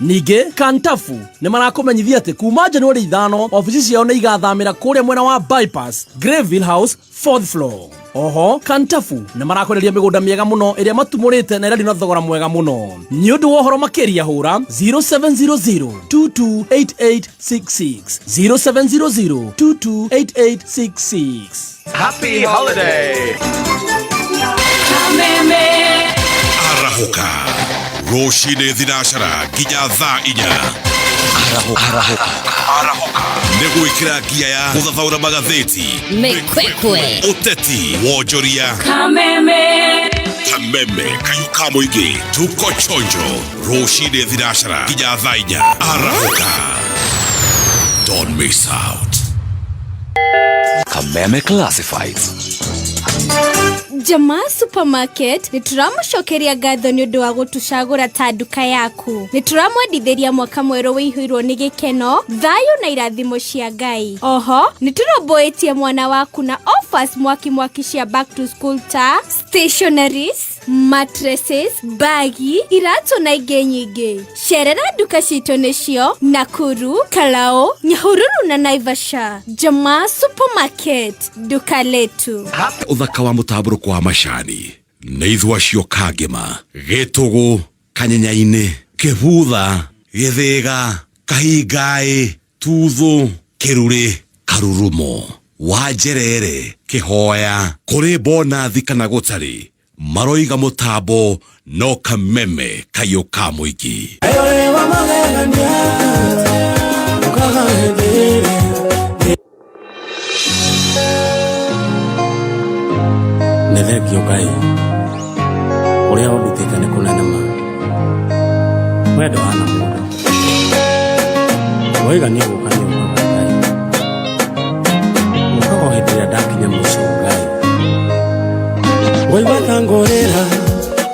Ningĩ Kantafu nĩ marakũmenyithia atĩ kuma Januari ithano ofici ciao nĩ igathamĩra kũrĩa mwena wa bypass Greville House fourth floor. Oho Kantafu nĩ marakwenderia mĩgũnda mĩega mũno ĩrĩa matumũrĩte na ĩrendio na thogora mwega mũno. Nĩ ũndũ wa ũhoro makĩria hũra 0700228866 0700228866. Happy Holiday! arahũka rũcinĩ thinacara nginya thaa inya arahũka nĩ gwĩkĩra ngia ya gũthathaũra magathĩti Mĩkwekwe. ũteti wonjoria kameme kayũ ka mũingĩ tuko chonjo rũcinĩ thinacara nginya thaa inya arahũka don't miss out Kameme Classifieds. Jama Supermarket nĩ tũramũcokeria ngatho nĩ ũndũ wa gũtũcagũra ta nduka yaku. Nĩ tũramwendithĩria mwaka mwerũ wĩihũirwo nĩ gĩkeno, thayũ na irathimo cia Ngai. Oho, nĩ tũrũmbũĩtie mwana waku na offers mwaki mwaki cia back to school ta stationaries, mattresses mbagi iratũ na ingĩ nyingĩ cerera nduka citũ nĩcio nakuru kalao nyahururu na naivasha jama supermarket nduka letu uthaka wa mũtambũrũko wa macani nĩ ithua cio kangema gĩtũgũ kanyenyainĩ kĩbutha gĩthĩga kahingaĩ Tuthũ, kĩrurĩ, karurumo, wanjerere, kĩhoya, kũrĩ bonathi kana gũtarĩ, maroiga mũtambo no kameme kayũ ka mũingĩ. Ewe wa magegania, ũkaga hĩndĩ ĩrĩa nĩ thengio ngai ũrĩa ũndutĩte nĩ kũnene ma wendo hana mũndũ waigania gũka nĩ ũkaga ngai ũkaga o hĩndĩ ĩrĩa ndakinya mũico ngai waigua ta ngũrĩra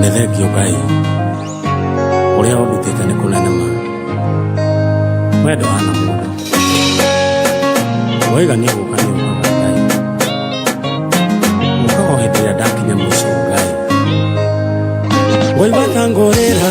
nĩ thengio ngai ũrĩa ũndutĩte nĩ kũnene ma we ndũhana mũndũ waiga nĩ gũka nĩ ũkaga ngai ũkaga o hĩndĩ ĩrĩa ndakinya mũico ngai waigua ta ngũrĩra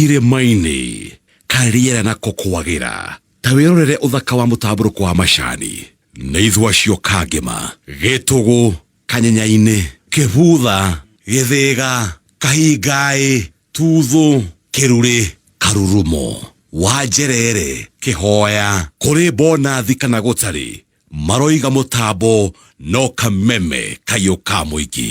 Irĩma-inĩ, kaĩ rĩera nako kwagĩra! Ta wĩrorere ũthaka wa mũtambũrũko wa macani, na ithũa cio kangĩma, gĩtũgũ, kanyenya-inĩ, kĩbutha, gĩthĩga, kahingaĩ, tuthũ, kĩrurĩ, karurumo, wanjerere, kĩhoya, kũrĩ bonathi kana gũtarĩ, maroiga mũtambo no kameme kaiũ ka mũingĩ.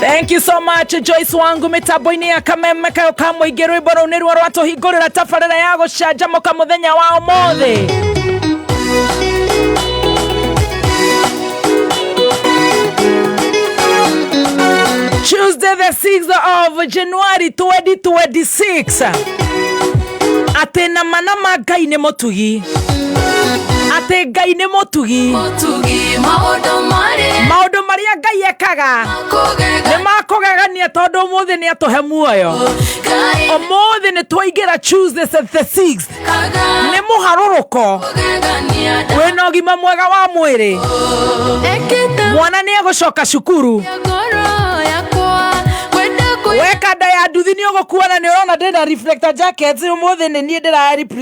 Thank you so much Joyce wangu mitambo-inĩ ya kameme kayo ka mũingĩ rwĩmbo rũu nĩruo rwatũhingũrĩra tabarĩra ya gũcanjamũka mũthenya wa ũmũthĩ Tuesday the 6th of January 2026 atĩ nama nama Ngai nĩ mũtugi atĩ ngai nĩ mũtugi Mũtugi maũndũ marĩ maũndũ marĩa ngai ekaga kũgega nĩ makũgegania tondũ ũmũthĩ nĩ atũhe muoyo Ngai ũmũthĩ nĩ twaingĩra tuesday the 6 kaga nĩ mũharũrũko kũgegania wĩna ũgima mwega wa mwĩrĩ Ekĩte mwana nĩ egũcoka cukuru ngoro yakwa Kwenda kũi weka nda ya nduthi nĩ ũgũkuona nĩ ũrona ndĩna reflector jacket ũmũthĩ nĩ niĩ ndĩra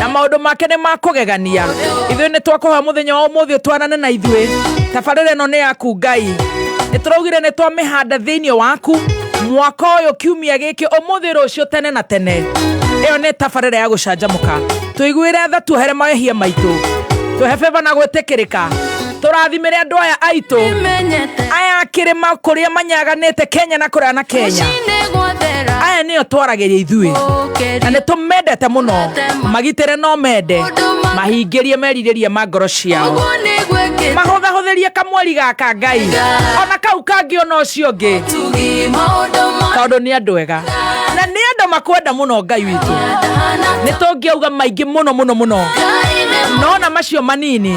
na maundu make ni ma kugegania ithuĩ nĩ twakũhoya mũthenya wa ũmũthĩ ũtwarane na ithuĩ tabarĩra ĩno nĩ yaku ngai nĩ tũraugire nĩ twamĩhanda thĩinĩ waku mwaka ũyũ kiumia gĩkĩ ũmũthĩ rũciũ tene na tene ĩyo nĩ tabarĩra ya gũcanjamũka tũiguĩre tha tuohere mawĩhia maitũ twehe beba na gwĩtĩkĩrĩka tũrathimĩre andũ aya aitũ aya kĩrĩma kũrĩa manyaganĩte kenya na kũrĩa na kenya aya nĩo twaragĩria ithuĩ na nĩ tũmendete mũno magitĩre no mende mahingĩrie merirĩria ma ngoro ciao mahũthahũthĩrie kamweri gaka ngai ona kau kangĩ ona ũcio ũngĩ tondũ nĩ andũ ega na nĩ andũ makwenda mũno ngai witũ nĩ tũngĩauga maingĩ mũno mũno mũno nona macio manini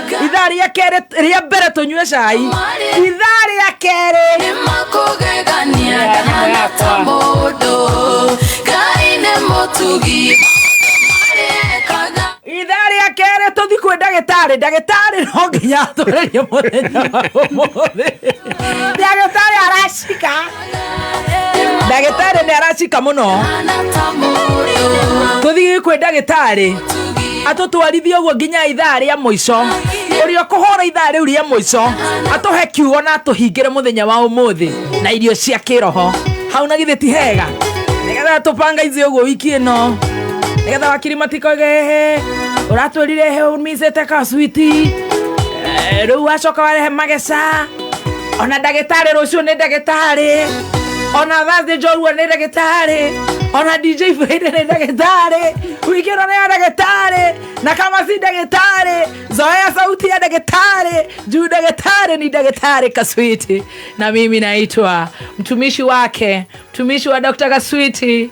ithaa rĩa kerĩ rĩa mbere tũnyue cai ithaa rĩa kerĩ makugegania ndahana ta mũndũ ngai nĩ mũtugi marĩkaga ithaa rĩa kerĩ tũthi kwĩ ndagĩtarĩ ndagĩtarĩ no nginya atũrĩrie mũthenya wa ũmũthĩ ndagĩtarĩ aracika ndagĩtarĩ nĩ aracika mũno tũthiĩ kwĩ ndagĩtarĩ atũtwarithie ũguo nginya ithaa rĩa mũico ũrĩa ũkũhũra ithaa rĩu rĩa mũico atũhe kiugo na atũhingĩre mũthenya wa ũmũthĩ na irio cia kĩroho hau na githĩ ti hega nĩgetha tũpangaizie ũguo wiki ĩno nĩgetha wakiri matikogehe ũratwĩrire he umicĩte kaswiti rĩu wacoka warehe mageca ona ndagĩtarĩ rũciũ nĩ ndagĩtarĩ ona thathĩ njorua nĩ ndagĩtarĩ ona dj faida nĩ ndagĩtarĩ wingĩro nĩ ya ndagĩtarĩ na kama si ndagĩtarĩ zoea sauti ya ndagĩtarĩ juu ndagĩtarĩ ni ndagĩtarĩ kaswiti na mimi naitwa mtumishi wake mtumishi wa dr kaswiti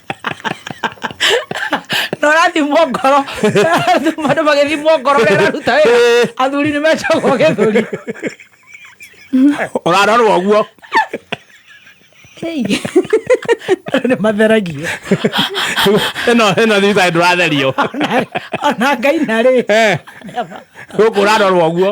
na ũrathimwo ngoro andũ magĩthimwo ngoro rĩa araruta wĩra athuri nĩ mecagwo gĩthũri ũrarorwo guo nä matheragia ĩno ĩno thibitarĩ ndũratherio ona ngai narä gå kå ũrarorwo guo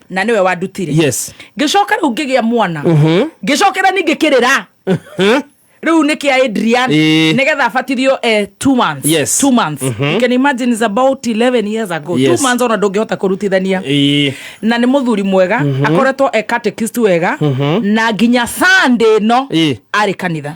na nĩwe wandutire yes ngĩcoka rĩu ngĩgĩa mwana Mhm. ngĩcokera ningĩ kĩrĩra rĩu nĩ kĩa adrian Ĩĩ. nĩgetha abatithio eh, two months Yes. two months you can imagine is about 11 years ago Yes. two months ona ndũngĩhota kũrutithania Ĩĩ. na nĩ mũthuri mwega akoretwo e catechist wega na nginya sunday ĩno Ĩĩ. arĩ kanitha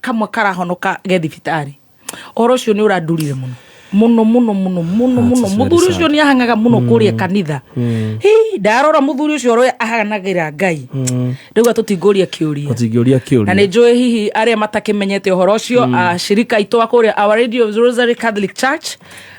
kamwe karahonoka ge thibitarĩ ũhoro ũcio nĩ ũrandurire mũno mũno mũno mũno mũno That's mũno very mũthuri sad. ũcio nĩ ahangaga mũno kũrĩa kanitha Hii, ndarora mũthuri ũcio ũrĩa ahanagĩra ngai rĩu atũtingũria kĩũria ũtingĩũria na nä kĩũria njå hihi arä a matakĩmenyete å horo å cio acirika aitå a kå rä a our radio rosary catholic church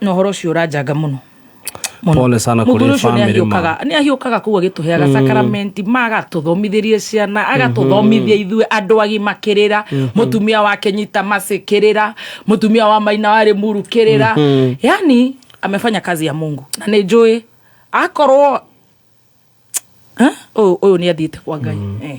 na horo ucio uranjanga muno pole sana kuri family ma ni ahiukaga kuwa gitu heaga mm. sacrament maga tuthomithirie ciana mhm. aga tuthomithia ithue andu agi makirira mhm. mutumia wake nyita masikirira mutumia wa maina wari murukirira mhm. yani amefanya kazi ya Mungu na ni njui akorwo Ha? Ũyũ ũyũ nĩ athiĩte kwa Ngai. Eh.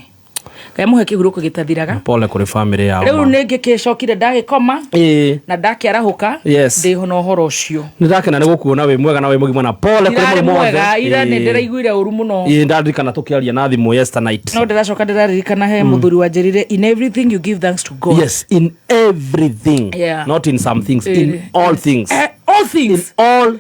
Ngai mũhe kĩhurũko gĩtathiraga. pole kũrĩ bamĩrĩ yao Rĩu nĩ ngĩkĩcokire ndagĩkoma Ĩĩ. na ndakĩarahũka Yes. ndĩho na ũhoro ũcio. nĩ ndakena nĩ gũkuona wĩ mwega na wĩ mũgima na pole kũrĩ Ndirarĩ mũrimũ wothe. mwega ira nĩ Ĩĩ. ndĩraiguire ũru mũno. Ĩĩ, ndaririkana tũkĩaria na thimũ yesterday night No ndĩracoka ndĩraririkana he mũthuri wanjĩrire in everything you give thanks to God. yes in everything Yeah. not in some things in Ĩĩ. all things Eh, all in things. all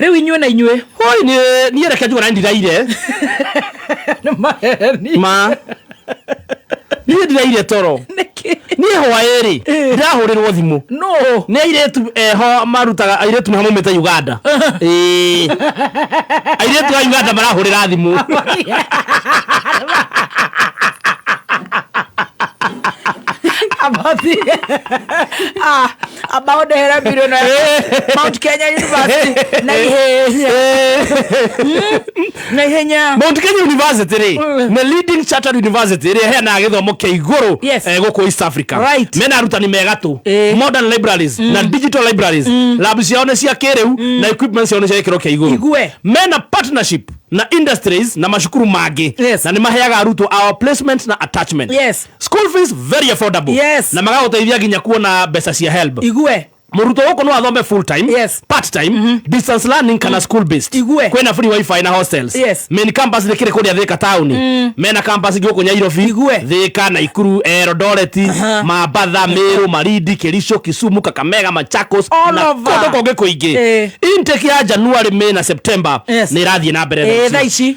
rĩu inyuĩ na inyuĩ hoi nĩ- niĩ reke njugana ndiraire nĩ maheni ma niĩ ndiraire toro nĩkĩ niĩ hwaĩ-rĩ ndirahũrĩrwo thimũ no nĩ airĩtu eho marutaga airĩtu nĩho maumĩte uganda Ĩĩ. airĩtu a uganda marahũrĩra thimũ abathi ah about the Hera Video na Mount Kenya University na ihenya na ihenya Mount Kenya University ri mm. nĩ leading chartered university ĩrĩa ĩheanaga gĩthomo kĩa igũrũ yes. eh, gũkũ East Africa right. mena arutani mega tũ eh. modern libraries mm. na digital libraries mm. lab ciao nĩ cia kĩrĩu mm. na equipment ciao nĩ cia gĩkĩro kĩa igũrũ mena partnership na industries na mashukuru mangĩ yes. na nĩ maheaga arutwo our placement na attachment yes. school fees very affordable Yes. na magagũteithia nginya kuona mbeca cia help igue mũrutwo gũkũ no athome full time Yes. part time distance learning kana school based Igue. kwĩna free wifi na hostels Yes. main campus nĩ kĩrĩ kũrĩa thĩka taũni mena campus ingĩ gũkũ nyairobi Igue. thĩka naikuru erodoreti mambatha mĩrũ marindi kĩrico kisumu kakamega machakos All na over. kũndũ kũngĩ kũingĩ Eh. intake ya january may na september Yes. nĩ ĩrathiĩ na mbere thaa Eh, ici. thaa ici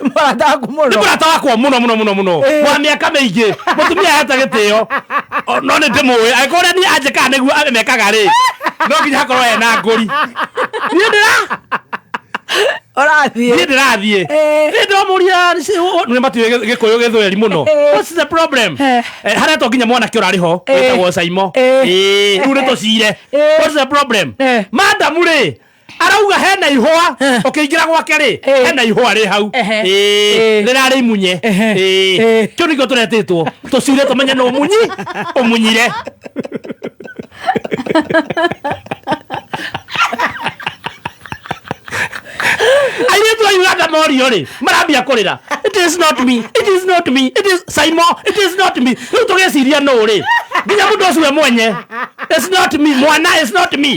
mũrathaku mũno mũrata wakwa muno muno muno muno Eh. wa miaka mĩingĩ mũtumia ahete gĩtĩo O, no nĩ ndĩmũĩ angĩkorwo ũrĩa niĩ anjĩkaga nĩguo amekaga rĩ no nginya hakorwo ena ngũri niĩ ndĩra ũrathiĩ niĩ ndĩrathiĩ Eh. nĩ ndamũria nĩ matiũĩ gĩ- gĩkũyũ gĩthweri mũno Eh. what's the problem Eh. Eh, harĩa to nginya mwanake ũrarĩ ho Eh. wĩtagwo caimo Eh. Eh, rĩu nĩ tũcire Eh. what's the problem Eh. madamu rĩ arauga hena ihũa Eh. ũkĩingĩra gwake rĩ Eh. hena ihũa rĩ hau Ehe. Eh. rĩrarĩ imunye Ehe. Eh. Eh. kĩu nĩkĩo tũretĩtwo tũcire tũmenye nũ munyi ũmunyire airĩtu a uganda morio rĩ marambia kũrĩra it is not me it is not me it is saimo it is not me rĩu tũgĩciria nũ rĩ nginya mũndũ ũcio we mwenye it's not me mwana it's not me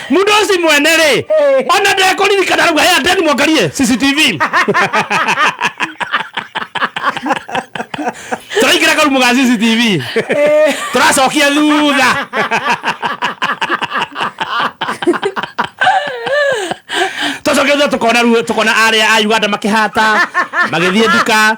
mudosi mwene rĩ Eh. ona ndekũririkana rauga ya ndeni mwangarie cctv tũraingĩra karumu ga cctv tũracokia thutha tũcokia thutha tũkona ru- tũkona arĩa a uganda makĩhata magĩthiĩ nduka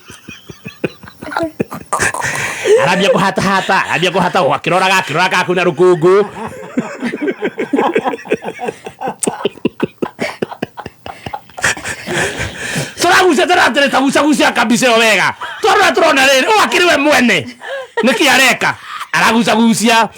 arambia kũhatahata arambia kũhata o akĩroraga akĩroraga kau na rũkũngũ tũragucia tũratĩrĩ tagucagucia kabica ĩyo wega tondũ ũrĩa tũrona rĩrĩ ũyũ akĩrĩ we mwene nĩkĩ areka aragucagucia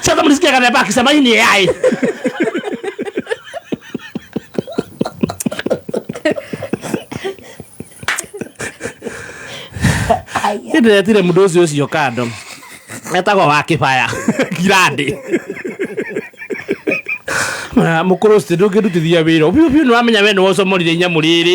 Sasa mlisikia kana baki sema hii ni AI. Nĩndĩretire mũndũ ũcio ũcio kando etagwo wa kĩbaya kirandi mũkũrũ ũcio ndũngĩrutithia wĩra biũ biũ nĩwamenya we nĩwocomorire inyamũ rĩrĩ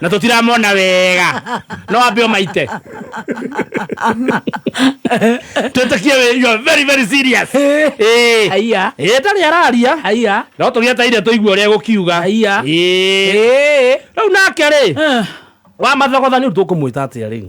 na tutiramona wega no ambe omaite twitikie we- you are very very serious Eh. Aya. Eh, tarĩ araria Aya. no tũgĩeteire tũigue ũrĩa gũkiuga Aya. rĩu nake rĩ wa mathogothani rĩu tũkũmwĩta atĩa rĩu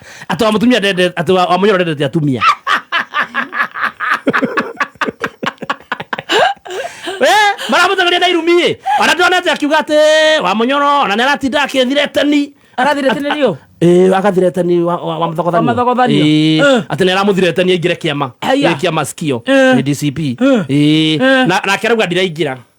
atĩ wa mũtumia ndende atĩ wa wa mũnyoro ndendete atumia Eh, maramũteng'eria na irumi-ĩ ona ndonete akiuga atĩ wa mũnyoro ona nĩ aratinda akĩthiretani arathiretenerio Ĩĩ, agathiretani wa- wa- wa mũthogothanio. Wa mũthogothanio. Ĩĩ, Eh. atĩ nĩ aramũthiretania aingĩre kĩama Aya. Nĩ kĩama sikio Eh. nĩ dcp Eh. Ĩĩ, Eh. na- nake arauga ndiraingĩra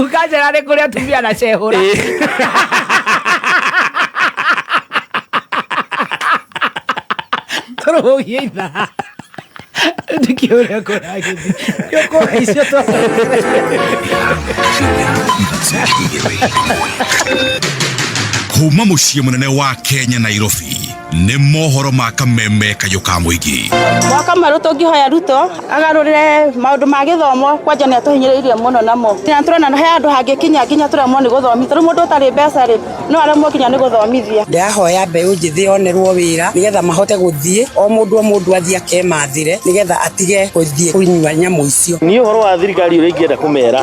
ukanjĩra nĩ kũrĩ atumia na cehũra tũrũgie itha ndikĩ ũrĩa kũragĩthi nĩ ũkũra icio kuma mũciĩ mũnene wa kenya nairobi nĩ mohoro ma kameme kayũ ka mũingĩ gwa kamarå tå ngä hoya ruto agarå rä maå ndå ma gä thomo kwanja nä atå hinyä rä irie må no namo na tå rona he andå hangä kinya nginya tå remwo nä gå thomithia rä u må ndå å tarä mbeca rä no aremwo nginya nä gå thomithia ndĩrahoya mbeũ njĩthĩ yonerwo wĩra nĩgetha mahote gũthiĩ o mũndũ o mũndũ athiĩ akemathĩre nĩgetha atige gũthiĩ kũnyua nyamũ icio niä å horo wa thirikari å rä a ingä enda kå mera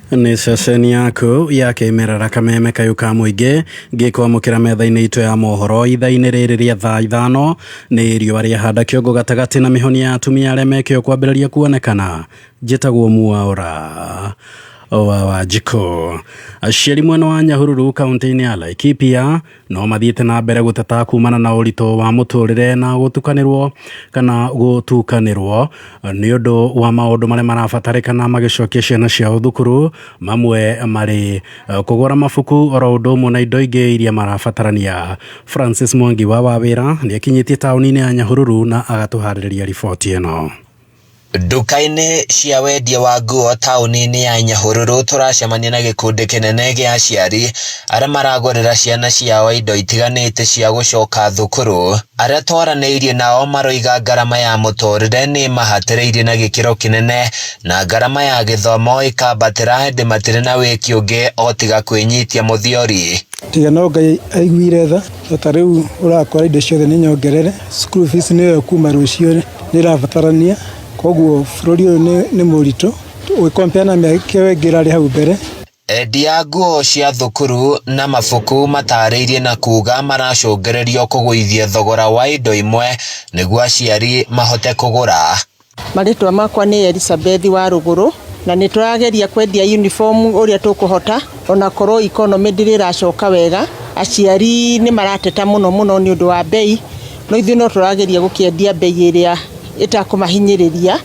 nĩ ceceni yaku ya kĩmerera kameme kayu ka mũingĩ ngĩkwamũkĩra metha-inĩ itũ ya mohoro itha-inĩ rĩrĩ rĩa thaa ithano nĩ riũa rĩa handa kĩongo gatagatĩ na mĩhoni ya atumia arĩa mekĩo kwambĩrĩria kuonekana njĩtagwo muaũra wa wanjikũ aciari mwena wa nyahururu kaunti-inĩ ya laikipia no mathiĩte na mbere gũteta kumana na ũritũ wa mũtũrĩre na gũtukanĩrwo kana gũtukanĩrwo nĩ ũndũ wa maũndũ marĩa marabatarĩkana magĩcokia ciana ciao thukuru mamwe marĩ eh, kũgũra mabuku oro ũndũ ũmwe na indo ingĩ iria marabatarania francis mwangi wa wawĩra nĩ akinyĩtie taũni-inĩ ya nyahururu na agatũharĩrĩria riboti ĩno Nduka-inĩ cia wendia wa nguo taũni-inĩ ya Nyahururu tũracemania na gĩkundi kĩnene gĩa aciari arĩa maragũrĩra ciana ciao indo itiganĩte cia gũcoka thukuru. Arĩa twaranĩirie nao maroiga ngarama ya mũtũrĩre nĩ ĩmahatĩrĩirie na gĩkĩro kĩnene na ngarama ya gĩthomo ĩkambatĩra ĩndĩ matirĩ na wĩki ũngĩ o tiga kwĩnyitia mũthiori. Tiga no Ngai aiguire tha, tondũ ta rĩu ũrakora indo ciothe nĩ nyongerere, school fees nĩyo ĩyo kuma rũciũ. nä ĩrabatarania koguo bå rå ri å yå nä må ritå å gä kompea na mä aka ä yo ä ngä ä rarä hau mbere Endia nguo cia thukuru na mabuku matarĩirie na kuga maracũngĩrĩrio kũgũithia thogora wa indo imwe nĩguo aciari mahote kũgũra. Marĩtwa makwa nĩ Elisabethi wa Rũgũrũ na nĩ tũrageria kwendia uniform ũrĩa tũkũhota ona korwo economy ndĩrĩ ĩracoka wega. Aciari nĩ marateta mũno mũno nĩ ũndũ wa mbei No ithuĩ no tũrageria gũkĩendia mbei ĩrĩa ĩtakũmahinyĩrĩria.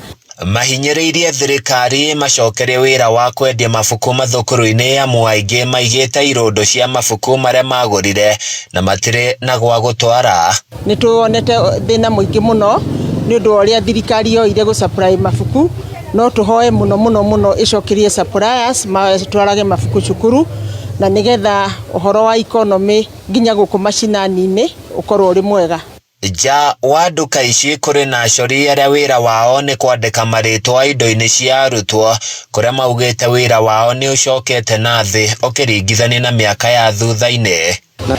Mahinyĩrĩirie thirikari ĩmacokerie wĩra wa kwendia mabuku mathukuru-inĩ amu aingĩ maigĩte irũndo cia mabuku marĩa magũrire na matirĩ na gwa gũtwara. Nĩ tũonete thĩna mũingĩ mũno nĩ ũndũ wa ũrĩa thirikari yoire gũ supply mabuku. No tũhoe mũno mũno mũno ĩcokerie suppliers matwarage mabuku cukuru na nĩ getha ũhoro wa economy... Nginya gũkũ macinaninĩ ũkorwo ũrĩ mwega. Nja wa nduka ici kũrĩ na acori arĩa wĩra wao nĩ kwandĩka marĩtwa indo-inĩ cia arutwo kũrĩa maugĩte wĩra wao nĩ ũcokete na thĩ ũkĩringithania na mĩaka ya thutha-inĩ.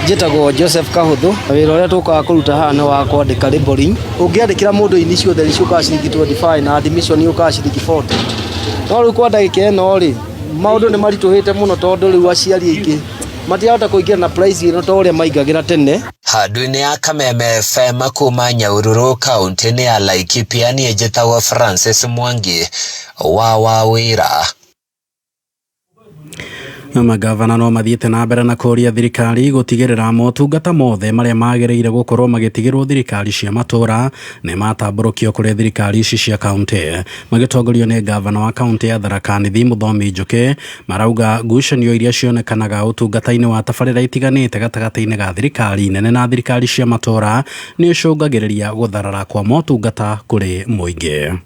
Njĩtagwo Joseph Kahũthũ, na wĩra ũrĩa tũkaga kũruta haha nĩ wa kwandĩka labelling. Ũngĩandĩkĩra mũndũ ini ciothe nĩ ciũkaga ciringi twenty five na admission yũkaga ciringi forty. No rĩu kwa ndagĩka ĩno rĩ, maũndũ nĩ maritũhĩte mũno tondũ rĩu aciari aingĩ... matirahota kũingĩra na price ĩno ta ũrĩa maingagĩra tene handũ-inĩ ya kameme fm kuma nyaururu kaũntĩ-inĩ ya laikipia niĩ njĩtagwo francis mwangi wa wa wĩra Magavana no mathiĩte na mbere na kũria thirikari gũtigĩrĩra motungata mothe marĩa magĩrĩire gũkorwo magĩtigĩrwo thirikari cia matũra nĩ matambũrũkio kũrĩ thirikari ici cia kaunti. Magĩtongorio nĩ ngavana wa kaunti ya Tharaka Nithi Mũthomi Njũkĩ Marauga ngucanio iria cionekanaga ũtungata-inĩ wa tabarĩra itiganĩte gatagatĩ-inĩ ga thirikari nene na thirikari cia matũra nĩ icũngagĩrĩria gũtharara kwa motungata kũrĩ mũingĩ.